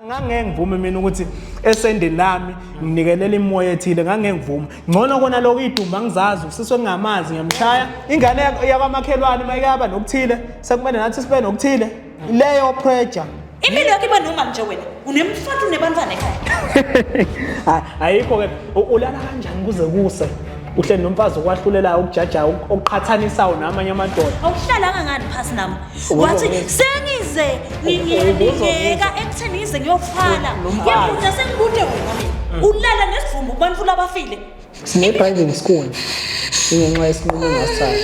ngangeke ngivume mina ukuthi esendeni lami nginikelela imoya ethile ngangeke ngivume ngcono kona lokho idumba ngizazi usiswe ngingamazi ngiyamshaya ingane yakwamakhelwane uma ikaba nokuthile sekumele nathi sibe nokuthile leyo pressure impilo yakho iba noma nje wena unemfatu nebantwana ekhaya ayikho ke ulala kanjani kuze kuse uhleli nomfazi okwahlulelayo okujajayo okuqhathanisayo namanye amadoda awuhlalanga ngani phasi nami wathi sengize ngiyeka ekutheni ngize ngiyofala ngiyabuda sengibude wena mina ulala nesivumbu kubantu labafile sinebhange ngesikuni ingenxa yesinqumo engasithatha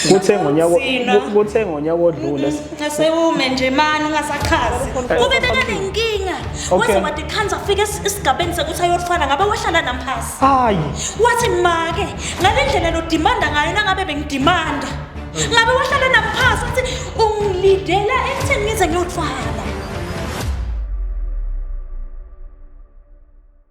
kuthe ngonyaka kuthe ngonyaka odlule Ngasewume nje mani ungasachazi. Kube bekanenkinga. Waze wathi khanza afike esigabeni sekuthi ayothwala ngabe wahlala namphasi. Hayi. Wathi make ngale ndlela lo demand ngayo nangabe bengidimanda. Ngabe wahlala namphasi uthi ungilidela ekutheni ngize ngiyothwala.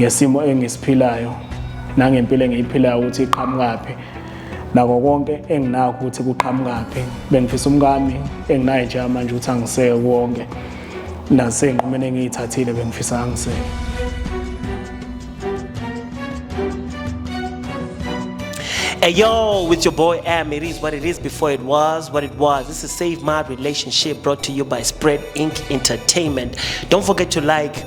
ngesimo engisiphilayo nangempilo engiyiphilayo ukuthi iqhamukaphi nako konke enginakho ukuthi kuqhamukaphi bengifisa umkami enginaye nje manje ukuthi angiseke konke nasenqumeni engiyithathile bengifisa angiseke Hey yo, with your boy M, it is what it is before it was what it was. This is Save My Relationship brought to you by Spread Inc. Entertainment. Don't forget to like,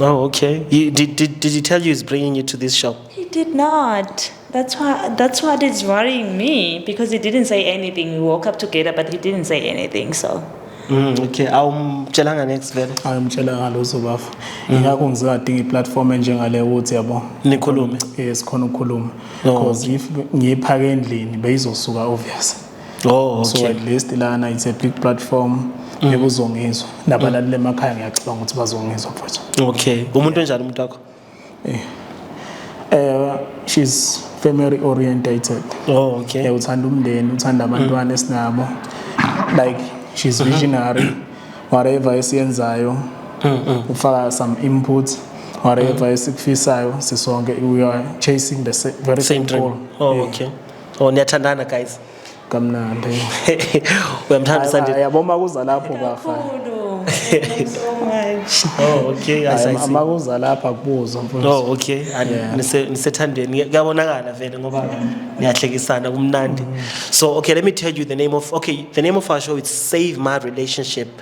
Oh, okay. You, did, did, did he tell you he's bringing you to this show? He did not. That's why. That's what is worrying me because he didn't say anything. We woke up together, but he didn't say anything. So Mm, okay. Awumtshelanga next vele. hayi umtshela ngalozo bafo ingakho ngizingadinga iplatform enjengale ukuthi yabo Nikhulume. eh sikhona ukukhuluma No. because if ngiyiphaka endlini beyizosuka obvious oh, okay. so at least lana it's a big platform mm. ekuzongizwa nabalaleli mm. emakhaya ngiyacabanga ukuthi bazongizwa mfowethu okay umuntu onjani umuntu wakho eh uh, she's family orientated oh okay yeah, uthanda umndeni uthanda mm. abantwana mm. esinabo like she's mm-hmm. visionary mm -hmm. whatever esiyenzayo mm -hmm. ufaka some inputs whatever mm -hmm. esikufisayo sisonke we are chasing the very same, same goal oh yeah. okay Oh niyathandana guys. Kamnandi. Uyamthanda Sandile. Yabo makuza lapho bafa. Oh okay, I see. Makuza lapha kubuzo mfowethu. Oh okay. Nise nisethandeni. Kuyabonakala vele ngoba niyahlekisana kumnandi. So okay, let me tell you the name of okay, the name of our show is Save My Relationship.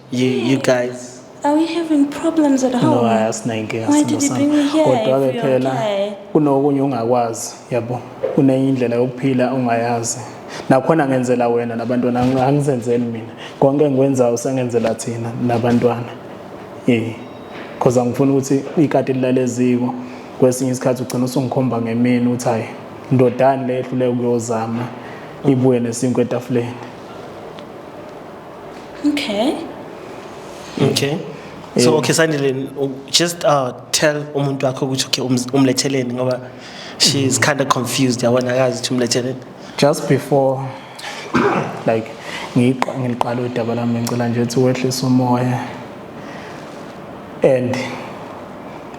you, you guys Are we having problems at home? No, asinayo inkinga Why did you bring me here? Kodwa-ke phela kunokunye ungakwazi yabo kunenye indlela yokuphila ongayazi nakhona ngenzela wena nabantwana angizenzeli mina konke engikwenzayo sengenzela thina nabantwana eh because angifuni ukuthi ikati lilale eziko kwesinye isikhathi ugcina usungikhomba ngemini uthi hayi ndodani le ehluleke ukuyozama ibuye nesinkwe etafuleni Okay. Okay. So okay sanele just uh tell umuntu wakho ukuthi okay umletheleni ngoba she is kind of confused yabona akazi ukuthi umletheleni. Just before like ngiqa ngiliqala udaba lami ngicela nje ukuthi wehlise umoya and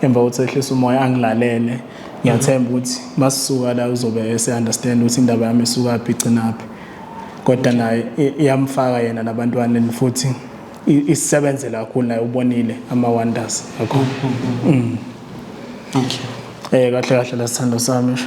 emva ukuthi ehlise umoya angilalele ngiyathemba ukuthi masisuka la uzobe ese understand ukuthi indaba yami isuka phi igcina phi kodwa naye iyamfaka yena nabantwaneni futhi isebenzela kakhulu naye ubonile ama-wonders akho mm. okay eh kahle kahle la sithando sami sho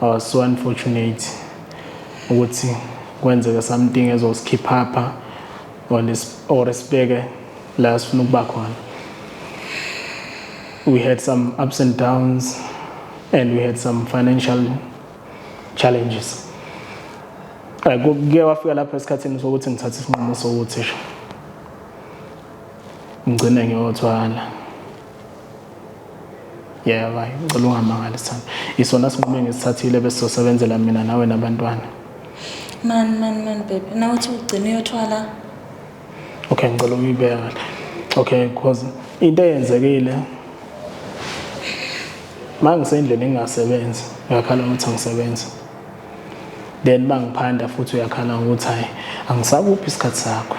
I was so unfortunate ukuthi kwenzeke something ezosikhipha pha or or sibeke la sifuna ukuba khona we had some ups and downs and we had some financial challenges kuke wafika lapho esikhathini sokuthi ngithathe isinqumo sokuthi ngigcine ngiyothwala Yeah, bye. Ngicela ungamangali sana. Isona sinqumo engisithathile bese sosebenzela mina nawe nabantwana. Man, man, man, babe. Na uthi ugcina uyothwala. Okay, ngicela uyibeka kahle. Okay, because into eyenzekile mangisendlini ngingasebenzi, ngiyakhala ukuthi angisebenzi. Then mangiphanda futhi uyakhala ukuthi hayi angisakuphi isikhathi sakho.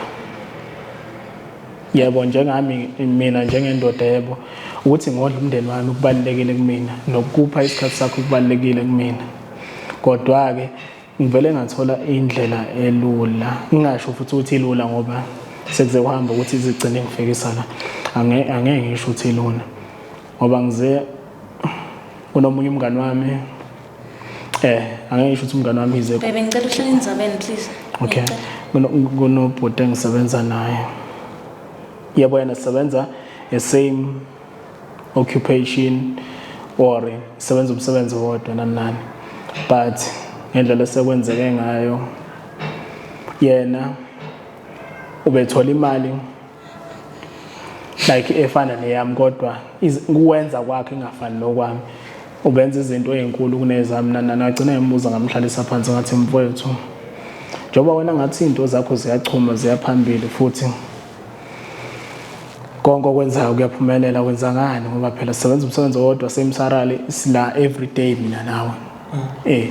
Yebo njengami mina njengendoda yebo ukuthi ngodla umndeni wami kubalekile kumina nokupha isikhathi sakho kubalekile kumina. Kodwa ke ngivele ngathola indlela elula. Ngingasho futhi ukuthi ilula ngoba sekuze kuhamba ukuthi izigcine ngifikisa la. Angeke angeke ngisho ukuthi ilula. Ngoba ngize kunomunye umngani wami Eh, angeke ngisho ukuthi umngane wami ize. Bebe ngicela uhlale endzabeni please. Okay. Kunobhuti engisebenza naye. Yebo yena sisebenza the same occupation or sebenza umsebenzi wodwa nanani. But ngendlela esekwenzeke ngayo yena ubethola imali like efana neyami kodwa kuwenza kwakhe ingafani nokwami ubenza izinto ezinkulu kunezami nana nagcina ngimubuza ngamhlalisa phansi ngathi mfowethu njengoba wena ngathi izinto zakho ziyachuma ziyaphambili futhi konke okwenzayo kuyaphumelela wenza ngani ngoba phela sisebenza umsebenzi owodwa same salary sila every day mina nawe mm. eh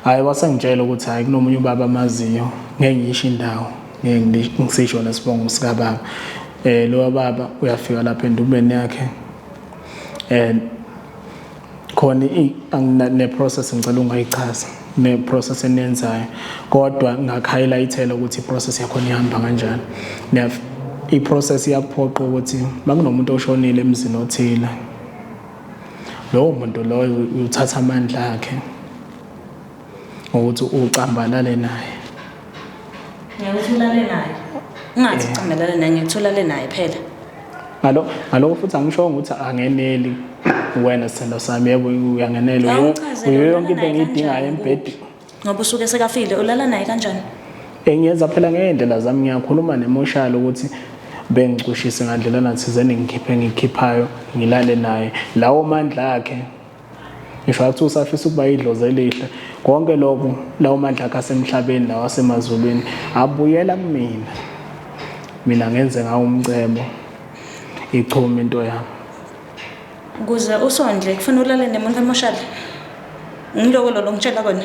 hayi wasengitshela ukuthi hayi kunomunye ubaba amaziyo ngeke ngisho indawo ngeke ngisisho nesibongo sikababa eh lo baba uyafika lapha endubeni yakhe and khona ne process ngicela ungayichaza ne process enenzayo kodwa ngakhighlightela ukuthi process yakho ihamba kanjani i process iyakuphoqa ukuthi makunomuntu oshonile emzini othile lowo muntu loyo uthatha amandla akhe ngokuthi ucambalale naye ngiyokuthi ulale naye ungathi ucambalale naye ngiyokuthi ulale naye phela ngalokho ngalokho futhi angisho ukuthi angeneli wena sithando sami yebo uyangenela uyiyo yonke into engiyidingayo embhedeni ngoba usuke sekafile ulala naye kanjani engiyenza phela ngey'ndlela zami ngiyakhuluma nemoshalo ukuthi bengicushise ngandlela nathizeni ngikhiphe ngikhiphayo ngilale naye lawo mandla akhe ngisho athi usafisa ukuba idlozi elihle konke lokhu lawo mandla akhe asemhlabeni lawo asemazulwini abuyela kumina mina ngenze ngawo umcebo ichuma into yami kuze usondle kufanele ulale nemuntu emoshali ngiloko lolo ngitshela kona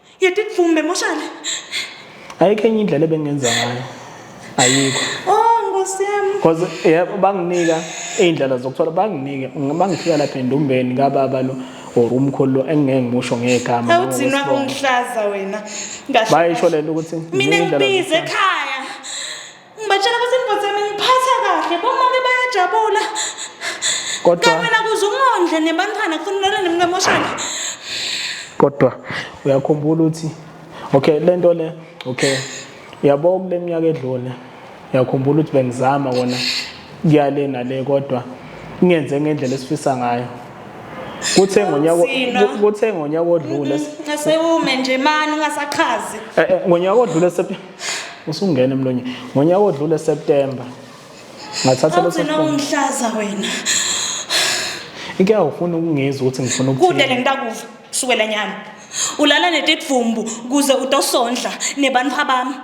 Yeti dvumbe moshana. Ayikho enye indlela ebengenza ngayo. Ayikho. Oh Nkosi yami. Because yebo banginika iy'ndlela zokuthola banginike bangifika lapha endumbeni kababa lo or umkhulu lo engingeke ngimusho ngegama awudzinwa ungihlaza wena bayisho lento ukuthi mina ngibize ekhaya Ngibatshela ukuthi indoda yami ngiphatha kahle, bomake bayajabula. Kodwa- Kanye nakuze umondle nebantwana kufunela nemkamoshana. kodwa uyakhumbula ukuthi okay le nto le okay uyabo kule minyaka edlule uyakhumbula ukuthi bengizama kona kuyale nale kodwa ngenze ngendlela esifisa ngayo kuthe ngonyaka Kunzima. ku- kuthe ngonyaka odlule Asewume nje mani ungasachazi. eh, eh, ngonyaka odlule sep- usungena emlonyeni ngonyaka odlule September ngathatha leso awugcina ungihlaza wena inkinga ufuna ukungizwa ukuthi ngifuna kude ukuthini lengitakuva kusukela nyalo ulala netidvumbu kuze utosondla nebantfwa bami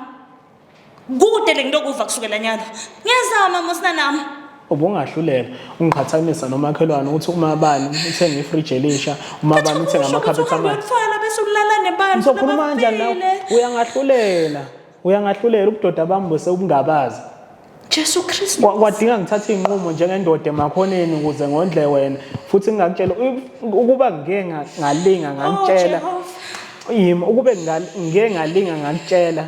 kude lengitokuva kusukela nyalo ngiyazama mosina nami ubungahlulela ungiqhathanisa nomakhelwane ukuthi umabani uthenge ifridge elisha umabani uthenge amakhaphethi amanzi bese ulala nebantu ngizokhuluma kanjani nawe uyangahlulela uyangahlulela ubudoda bami bose ubungabazi Jesu Kristu kwadinga ngithathe inqumo njengendoda emakhoneni ukuze ngondle wena futhi ngingakutshela ukuba ngike ngalinga ngakutshela oh, yimi ukube ngike ngalinga ngakutshela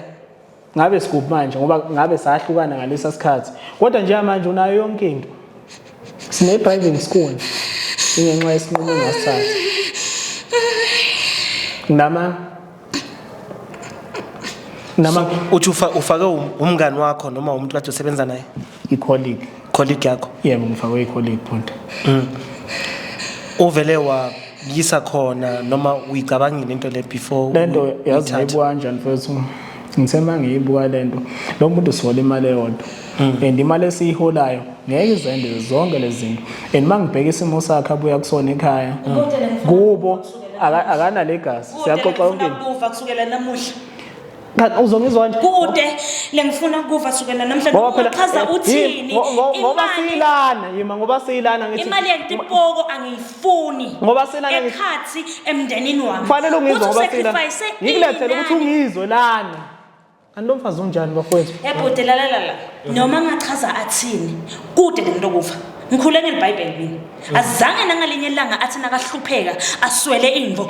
ngabe sikuphi manje ngoba ngabe sahlukana ngalesa sikhathi kodwa njengamanje unayo yonke into sine-driving school ingenxa yesinqumo engasithatha nama nama uthi ufake um-, umngani wakho noma umuntu kade usebenza naye icolleague colleague yakho yebo ngifakwe icolleague point mm. uvele wa yisa khona noma uyicabangile into le before lento yazi ngiyibuka kanjani mfethu ngithe uma ngiyibuka lento lo muntu usihola imali eyodwa hmm. and imali esiyiholayo ngeke izende zonke lezi zinto and uma ngibheka isimo sakhe abuya kusona ekhaya kubo akanalegazi siyaxoxa yonke kusukela namuhla Cha uzongizwa nje. Kude lengifuna ukuva sukela namhlanje Ngoba phela- uchaza eh, uthini. ngo- ngo- ngoba Imali- siyilana yima ngoba siyilana ngithi Imali yentipoko angiyifuni. Ngoba silana ngithi- ekhathi emndenini wami. kufanele ungizwe Uthi ngoba siyilana usacrifice ngikulethele ukuthi inani. ungizwe lana kanti lo mfazi unjani bafowethu Ebhuti lalalala. Noma ngachaza athini. Kude lento kufa. Ngikhule ngelibhayibheli mina. Azange nangalinye ilanga athi nakahlupheka aswele imvo.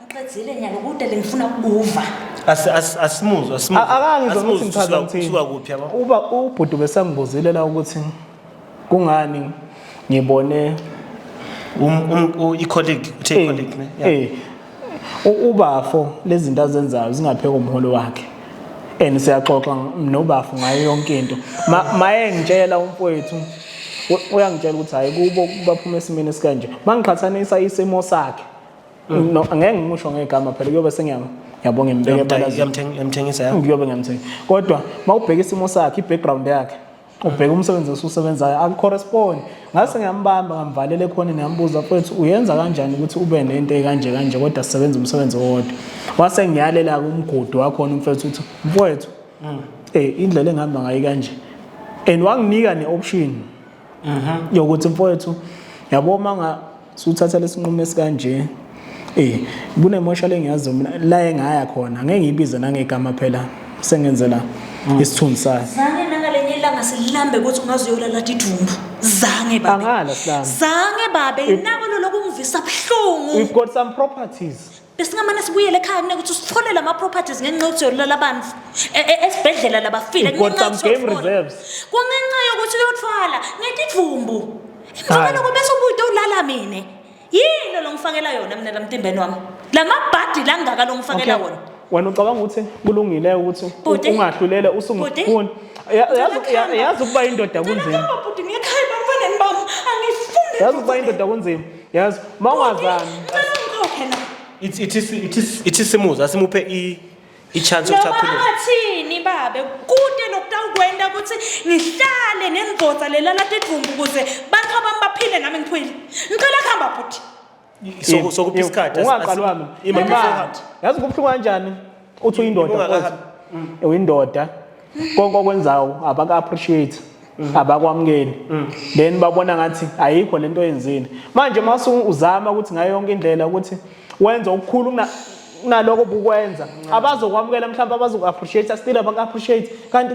Uqedzile nyalo kude lengifuna ukubuva. Asi- asi- Asimuzwa asimuzwa. A- Akangizwa Asimuzwa ukuthi ngichaza usuka- ngithini. usuka kuphi yabo. Uba ubhuti besangibuzile la ukuthi kungani ngibone Um- um- u- i-colleague, uthe Eh, i-colleague, ne? Yeah. eh, u- ubafo lezi zinto azenzayo zingapheka umholo wakhe and siyaxoxa nobafo ngayo yonke into Ma- maye ngitshela umfowethu u- uyangitshela ukuthi hhayi kubo baphuma esimeni esikanje mangiqhathanisa isimo sakhe Mm. no angeke ngimusho ngegama phela kuyobe sengiyama yabonga imbeke balazini Yamtheng- yamthengisa ya kuyobe ngiyamthenga kodwa mawubheka isimo sakhe i-background yakhe ubheka umsebenzi osusebenzayo akucorrespond ngase ngiyambamba ngamvalela ekhoneni ngambuza mfethu uyenza kanjani ukuthi ube nento ekanje kanje kodwa sisebenza umsebenzi owodwa wase ngiyalela-ke umgudu wakhona umfethu ukuthi mfowethu um indlela engihamba ngayo kanje and wanginika ne-option yokuthi mfowethu yabo uma nga- Suthatha lesinqumo esikanje. Eh, kunemosha lengiyazi mina la engaya khona. Ngeke ngibize nangegama phela sengenzela mm. isithunzi sayo. Zange nangalenye ilanga silambe ukuthi ungaze uyolala didumbu. Zange babe. Angala silambe. Zange babe, nako lokungivisa buhlungu. We've got some properties. besingamane sibuyele ekhaya kunekuthi usitholele ama-properties ngenxa yokuthi uyolala abantu e- e- esibhedlela labafile You got kungenxa some yokuthi game uyothola. reserves. kungenxa yokuthi uyothwala ngetidvumbu emva Hhayi. kwaloko bese ubude ulala mina yini lo ngifakela yona mina lamtimbeni wami la mabhadi langaka lo ngifakela Okay. wona wena ucabanga ukuthi kulungile ukuthi u- Bhuti. ungahlulele Bhuti. usungifuni Ya- yazi- ya- Ngiyakhala. yazi ukuba indoda kunzima Ngiyakhala, bhuti, ngiyakhaya ebantwaneni bami angifuni yazi ukuba indoda kunzima yazi uma ungazami Ngicela ungikhokhe la. ithi ithi ithi- ithi simuza simuphe i i-chance yokuthi Noma akhulume athini babe kude nokutawukwenta ukuthi ngihlale nendvodza lelala tidvumbu ukuze bantfu abami baphile nami ngiphile. Ngicela kuhamba bhuti. Soku- sokupha isikhathi asi- asi- ungaqalwami ima- Imali. yazi kubuhlungu kanjani uthi uyindoda Ngibonga mfowethu. kakhulu. uyindoda konke okwenzayo abaka-appreciate abakwamukeli then babona ngathi ayikho lento oyenzile manje uma usu- uzama ukuthi ngayo yonke indlela ukuthi wenze okukhulu kuna- kunaloko bukwenza abazokwamukela mhlawumbe abazoku-appreciate still abaku-appreciate kanti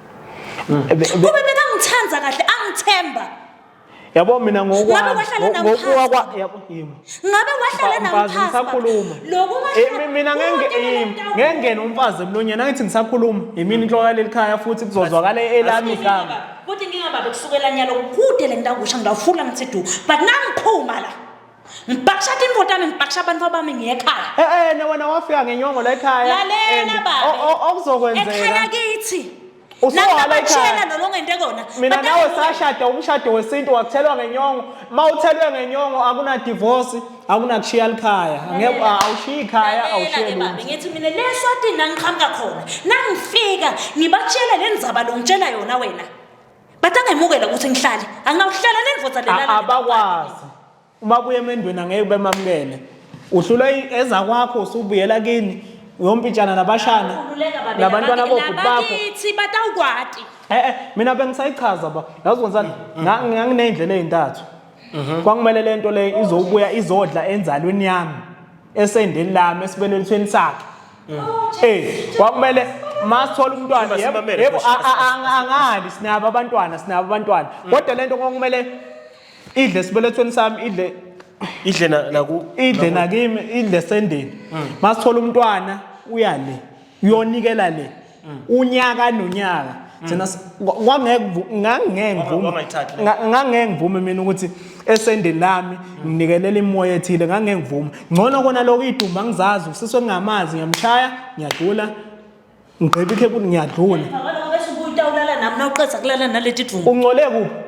Mm. Kube bekangithanda kahle angithemba. Yabo mina ngokwami ngokuwa kwa yabo yimi. Ngabe wahlala namphasa. Ngisakhuluma. Lokuma mina ngenge yimi ngengena umfazi emlonyeni angithi ngisakhuluma. Yimini inhloko yaleli khaya futhi kuzozwakala elami igama. Futhi ngingababe kusukela nyalo kude le ndawo kusha ngidawufula ngithi du but nangiphuma la. ngibhakisha tintfo tami ngibhakisha bantfu bami ngiyekhaya Eh eh ne wena wafika ngenyongo la ekhaya. lalela and baba o- o- ekhaya Okuzokwenzeka. kithi Usuwala ekhaya. nabatshela nolongente kona Mina Batala nawe kuwe. sashada umshado wesintu wakuthelwa ngenyongo. Mawuthelwe ngenyongo akuna divorce, akuna kushiya likhaya. Ngeke Lalela. awushiyi ikhaya, Lalela awushiye ke baba, lutho. ngithi mina le swatini nangiqhamuka khona nangifika ngibatshele le ndzaba longitshela yona wena But angemukela ukuthi ngihlale. Angawuhlala nendvodza lena. A- abakwazi uma buya emendweni angeke bemamukele uhlulwa i- ezakwakho usubuyela kini uyompintshana nabashana Khululeka babe, nabantwana labaki- bobhuti bakho labakithi batawukwati. Eh eh mina bengisayichaza ba yazi wenzani Nga- nganginey'ndlela ey'ntathu kwakumele le nto le izobuya izodla enzalweni yami esendeni lami esibelethweni sakhe Mm. Eh, kwakumele masithola umntwana yebo angali sinabo abantwana sinabo abantwana mm. kodwa lento kwakumele idle sibelethweni sami idle idle naku idle nakimi idle sendeni mm. masithola umntwana uyale uyonikela le mm. unyaka nonyaka mm. thina ngangeke ngivume mina ukuthi esendeni lami mm. nginikelela imoya ethile ngangeke ngivume ngcono kona lokho idumba ngizazi usiswe ngingamazi ngiyamshaya ngiyadlula ngigqiba ikhebuli ngiyadlula uncolekuphi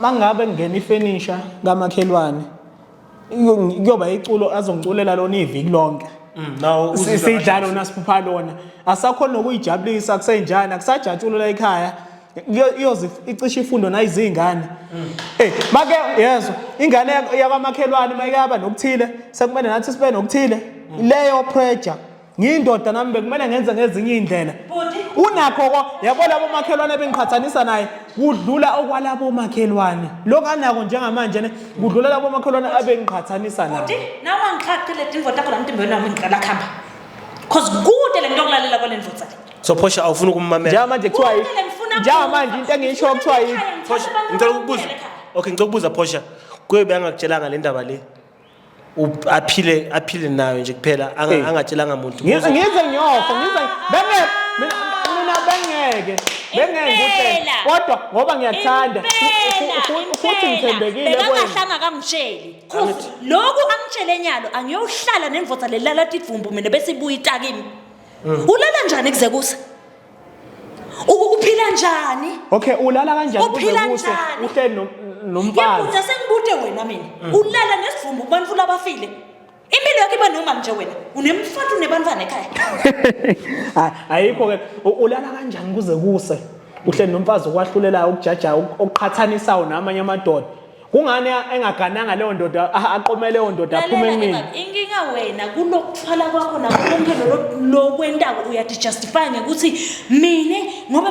mangabe ngingena ifenisha kamakhelwane kuyoba iculo azongiculela lona iviki lonke mm, no sidlalo nasiphupha lona asakhona nokuyijabulisa kusenjani akusajatshulu la ekhaya iyoze icishe ifundo nayizingane mm. eh make yezwa ingane yakwamakhelwane mayikaba nokuthile sekumele nathi sibe nokuthile mm. leyo pressure ngiyindoda nami bekumele ngenze ngezinye iy'ndlela unakho ko yabo labo makhelwane bengiqhathanisa naye kudlula okwalabo makhelwane lokhu anako njengamanje ne kudlula labo makhelwane abengiqhathanisa naye Bhuti, nawe angixhaqile dingo takho la mtimbe wena ngicela khamba. Cause kude le nto yokulalela kwale ndvodza le. so phosha awufuni ukummamela njengamanje kuthiwa yi- Kude le ngifuna njengamanje into engiyisho kuthiwa yi Phosha, ngicela ukubuza okay ngicela ukubuza phosha kuyobe angakutshelanga le ndaba le u- aphile aphile nayo nje kuphela anga- Hey. angatshelanga muntu Ngize ngize ngiyofa ngize benge mina mina bengeke bengeke ngikutshele Impela. kodwa ngoba ngiyathanda fu- Impela, fu- fu- futhi impela. ngithembekile kwena Bekakahlanga akangitsheli Cause loku angitshele nyalo angiyohlala nemvota lelala tidvumbu mina bese ibuya itakimi ulala njani kuze kuse U- uphila njani okay ulala kanjani Uphila kuze kuse njani? uhleli no- nomfazi ngiyabuza sengibude wena mina ulala nesivumbu kubantu labafile impilo yakho iba normal nje wena unemfatu unebantwana ekhaya Ay- ayikho ke U- ulala kanjani kuze kuse uhleli nomfazi okwahlulelayo okujajayo ok- okuqhathanisayo namanye amadoda kungani engagananga leyo ndoda aqome leyo ndoda aphume kumina inkinga wena kulokuthwala kwakho nakonke lokwentako uyathi justify ngekuthi mina ngoba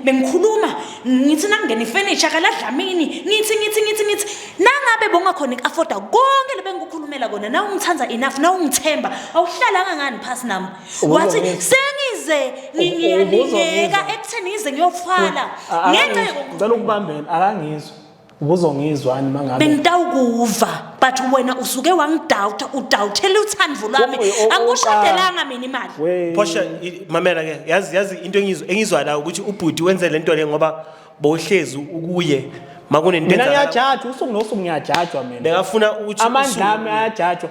bengikhuluma ngithi nangingena ifurniture kaladlamini ngithi ngithi ngithi ngithi nangabe bongakhona iku-afforda konke lebengikukhulumela kona na ungithanda enough na ungithemba awuhlalanga ngani phasi nami wathi sengize ngiyalingeka ekutheni ngize ngiyofala ngenxa ngicela ukubambela akangizwa ubuzongizwani mangabe bengitawukuva but wena usuke wangidoubt udouthele uthando lwami angikushadelanga mina imali phosha mamela ke yazi yazi into engizwa engizwa la ukuthi ubhuti wenze lento le ngoba bowuhlezi ukuye makunento mina ngiyajajwa usuku nosuku ngiyajajwa mina bekafuna ukuthi amandla ami ayajajwa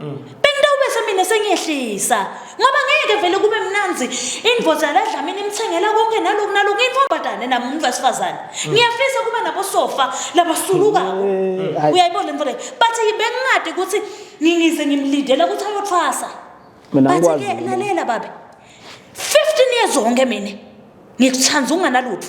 mm. bengitawubese mina sengiyehlisa ngoba ngeke vele kube mnanzi indvoza yaladlamini imthengela konke naloku naloku intombazane nami umuntu wesifazane mm. ngiyafisa kuba nabosofa labasulukako mm. uyayibona le nto leyo but bengingade ukuthi ngingize ngimlindela ukuthi ayothwasa bathi-ke lalela babe 15 years onke mina ngikuthanda unganalutho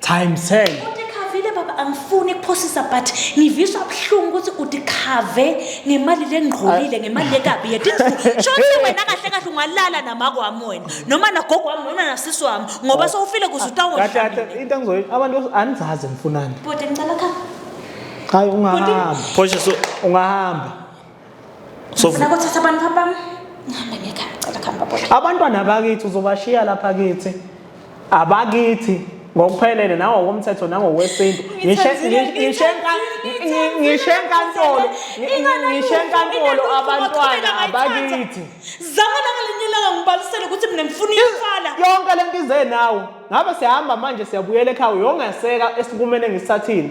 Time sell. Udikhavile baba angifuni kuphosisa but ngivisa ubuhlungu ukuthi udikhave ngemali lengqolile ngemali lekabi yet indlu. Shothi wena kahle kahle ungalala namako wami wena noma nagogo wami noma nasisi wami ngoba sewufile kuze Kahle kahle utawona. into engizoyi abantu anizazi nifunani. Bhuti ngicela khaya. Hayi ungahamba. Phosha so Ungahamba. Ngifuna kuthatha abantu babam. Ngihambe ngekhaya ngicela khamba baba. Abantwana bakithi uzobashiya lapha kithi. Abakithi ngokuphelele nawo komthetho nangokwesintu ngishe ngishe ngishe enkantolo ngishe enkantolo abantwana abakithi zama nangalinilanga ngibalisele ukuthi mina ngifuna ifala yonke lento ize nawo ngabe siyahamba manje siyabuyela ekhaya uyongeseka esikumene ngisithathile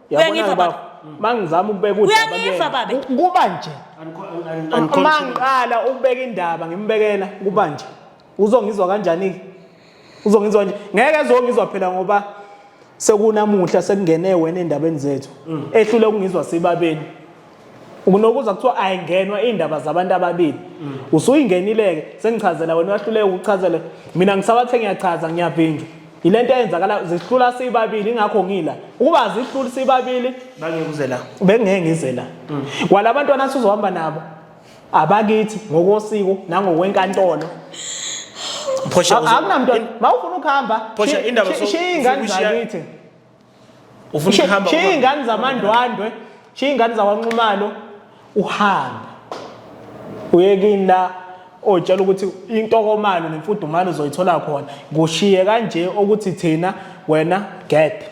uyangiva baba mangizama ukubeka udaba uyangiva baba kuba nje mangiqala ukubeka indaba ngimbekela kuba nje uzongizwa kanjani ke uzongizwa nje ngeke ezongizwa phela ngoba sekunamuhla sekungene wena endabeni zethu mm. ehlule ukungizwa sibabeni unokuza kuthiwa ayingenwa iy'ndaba zabantu ababili mm. usuyingenile-ke sengichazela wena uyahluleka ukuchazela mina ngisawathe ngiyachaza ngiyavinjwa yile nto eyenzakala zihlula sibabili ingakho ngila ukuba zihluli sibabili bengekuze la bengeke ngize la mm. kwala bantwana sizohamba nabo abakithi ngokosiko nangokwenkantolo akunamntwana ma ufuna ukuhamba shiya ingane zakithi ufuna ukuhamba shiya iy'ngane zamandwandwe shiya iy'ngane zakwanxumalo uhambe uye kini la otshela ukuthi intokomalo nemfudumalo uzoyithola khona kushiye kanje ukuthi thina wena gede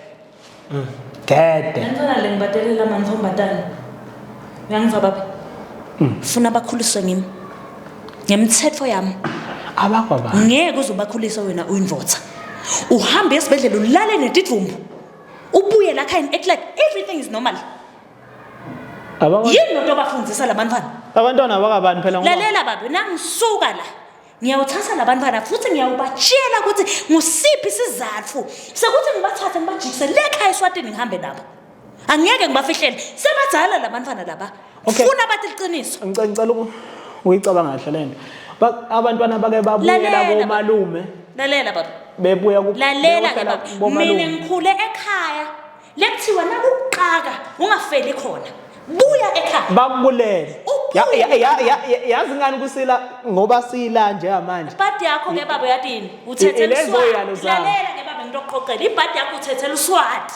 mm. gede lentwana le ngibatelela mantombazane uyangizwa baba mm. funa bakhuliswe ngimi ngemthetho yami abakwabani ngeke uzobakhulisa wena uyinvotha uhambe esibhedlela ulale netidvumbu ubuye la khayini act like everything is normal Abakwa- yini lento obafundisa labantwana abantwana abakabani phela ngoba lalela babe nangisuka la ngiyawuthatha labantwana futhi ngiyawubatshela ukuthi ngusiphi isizatfu sekuthi ngibathathe ngibajikise le khaya eswatini ngihambe nabo angiyeke ngibafihlele sebadala labantwana laba Okay. funa bathi liqiniso Ngicela ngicela uku- ukuyicabanga kahle le nto. Ba- Abantwana bake babuyela Lalela, komalume lalela baba bebuya ku- lalela ke beyohlala baba mina komalume. ngikhule ekhaya lekuthiwa nakuqaka ungafeli khona buya ekhaya Bakulele. Ubuye. Ya- ya- ya- ya- ya- Yazi ngani kusila ngoba sila njengamanje. ibhadi yakho ke baba uyatini uthethela ilezo uswati yalo zabo. lalela ke baba ngitokuqoqela ibhadi yakho uthethela uswati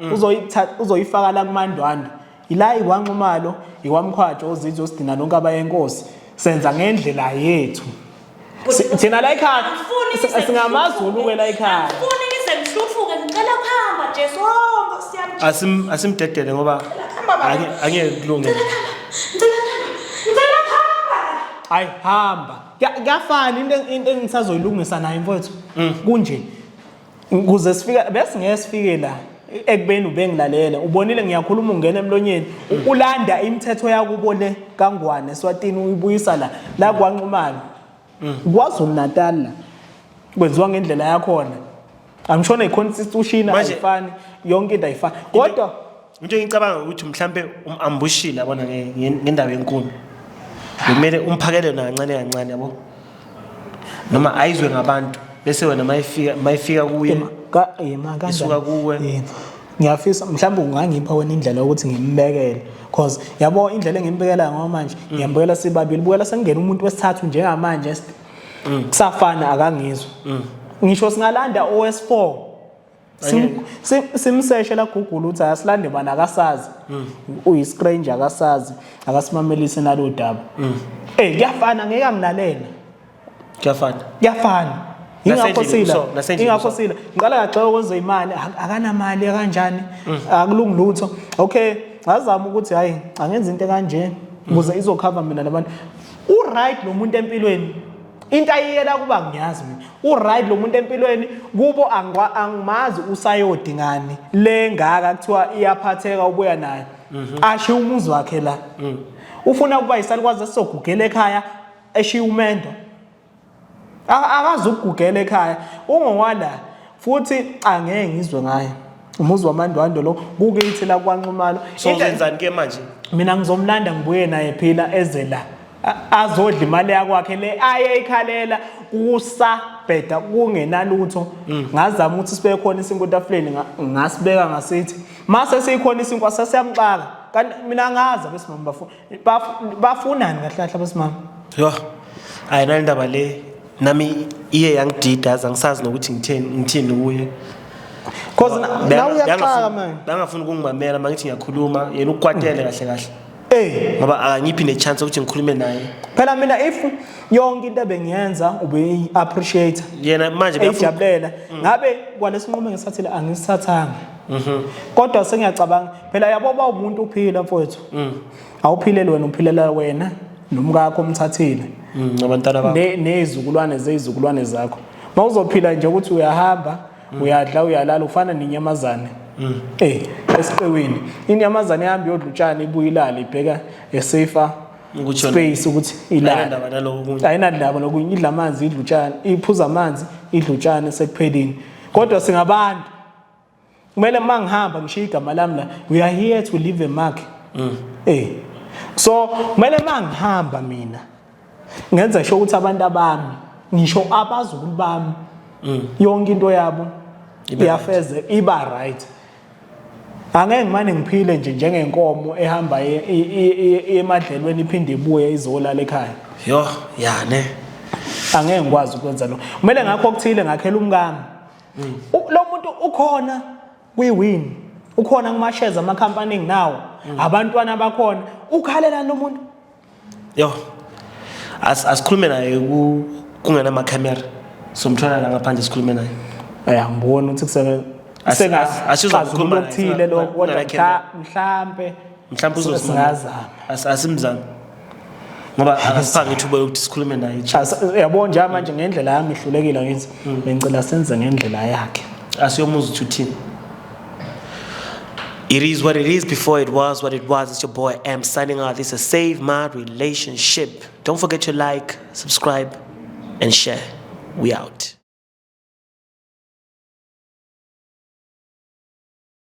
mm. uzoyifaka la kumandwandwe yila ikwanxumalo ikwamkhwatsho ozizwe osidina nonke abayenkosi senza ngendlela yethu thina la ekhaya singamazulu ke la ekhaya asimdedele ngoba angeke kulungele hayi hamba kuyafana into engisazoyilungisa nayo mfowethu mm. kunje kuze sifika bese ngeke sifike la ekubeni ubengilalele ubonile ngiyakhuluma ungena emlonyeni ulanda imithetho yakubo le kangwane swatini uyibuyisa la la kwanxumana kwazulu natal la kwenziwa ngendlela yakhona angishona i-constitution Manje- ayifani yonke into ayifani kodwa into engicabanga ukuthi mhlampe um-ambushile yabona nge- nge- ngendaba yenkuni bekumele umphakele yona kancane kancane yabo noma ayizwe ngabantu bese wena mayifika mayifika kuye Yema, ka- yema, kanjani? Isuka kuwe. Yema. ngiyafisa mhlawumbe ungangipha wena indlela yokuthi ngimbekele cause yabo indlela engimbekela ngayo manje Mm. ngiyambukela sibabili bukela sengingena umuntu wesithathu njengamanje est- Mm. kusafana akangizwa ngisho singalanda owes-four simseshe la Google uthi asilande bani akasazi mm. uyi strange akasazi akasimamelise nalo daba mm. eh kuyafana ngeke angilalele kuyafana kuyafana ingakho sila ingakho sila ngiqala kaxoxa kwenza imali akanamali kanjani mm. akulungi lutho okay ngazama ukuthi hayi angenza into kanje ukuze izokhava mina nabantu u right lo muntu empilweni into ayiyela kuba ngiyazi mina uright lo muntu empilweni kubo angimazi usayodi ngani le ngaka kuthiwa iyaphatheka ubuya nayo mhm. ashiye umuzi wakhe la mm. ufuna ukuba yisalikwazi esizogugela ekhaya eshiye umendo akazi ukugugela ekhaya ungowala futhi angeke ngizwe ngaye umuzi wamandwandwe lo kukithi la kwanxumalo sozenzani ke manje mina ngizomlanda ngibuye naye phila eze la azodla imali yakwakhe le ayeyikhalela kusabheda kungenalutho mm. ngazama ukuthi sibe khona isinkwa etafuleni ngasibeka ngasithi mase sikhona isinkwa sasiyamxaka kanti mina ngazi abesimama bafuna Baf- bafunani kahle kahle abasimama Yho, hayi nale ndaba le nami iye yangidida aze angisazi nokuthi ngitheni ngithini kuye. cause na- Beka- nawe uyaxaka bekangafuni- manje Bekangafuni ukungimamela uma ngithi ngiyakhuluma yena ukwatele kahle kahle Eh, ngoba akangiphi nechance yokuthi ngikhulume naye. phela mina if yonke into ebengiyenza ubeyi-appreciate Yena manje bekafuna eyijabulela ngabe kwalesinqumo engisithathile angisithathanga Mhm. Kodwa sengiyacabanga phela yabo ba umuntu uphila mfowethu. Mhm. Awuphilele wena uphilela wena nomkakho omthathile. Mhm, nabantwana bakho. Ne nezizukulwane zezizukulwane zakho. Mawuzophila nje ukuthi uyahamba, mhm. uyadla, uyalala ufana nenyamazane. Mhm. Eh, esiqewini. Inyamazane ihamba iyodla utshani ibuye ilale ibheka esafer space ukuthi ilale ayinandaba lokunye idla amanzi idla utshani iphuza amanzi idla utshani sekuphelini kodwa singabantu kumele uma ngihamba ngishiye igama lami la we are here to leave a mark mm. eh so kumele uma ngihamba mina ngenza sho ukuthi abantu abami ngisho abazukulu bami mm. yonke into yabo iyafeze iba right angeke ngimane ngiphile nje njengenkomo ehamba e, e, e, emadlelweni iphinde ibuye izolala ekhaya yho yane angeke ngikwazi ukwenza lokho kumele ngakho okuthile ngakhela umkami lo muntu ukhona kwi-win ukhona kumasheza amakhampani enginawo mm. abantwana bakhona ukhalelani lo muntu yo asikhulume naye kungenamakamera somthwala la ngaphandle sikhulume naye ya ngibona ukuthi kusebenza asizwa ukukhuluma okuthile lokho kodwa mhlampe mhlawumbe uzosingazama asimzami ngoba akasiphange ithuba lokuthi sikhulume naye yabo nje manje ngendlela yami ihlulekile ngithi hmm. bengicela senze ngendlela yakhe asiyomuza ukuthi uthini It is what it is before it was what it was. It's your boy M signing out. This is Save My Relationship. Don't forget to like, subscribe, and share. We out.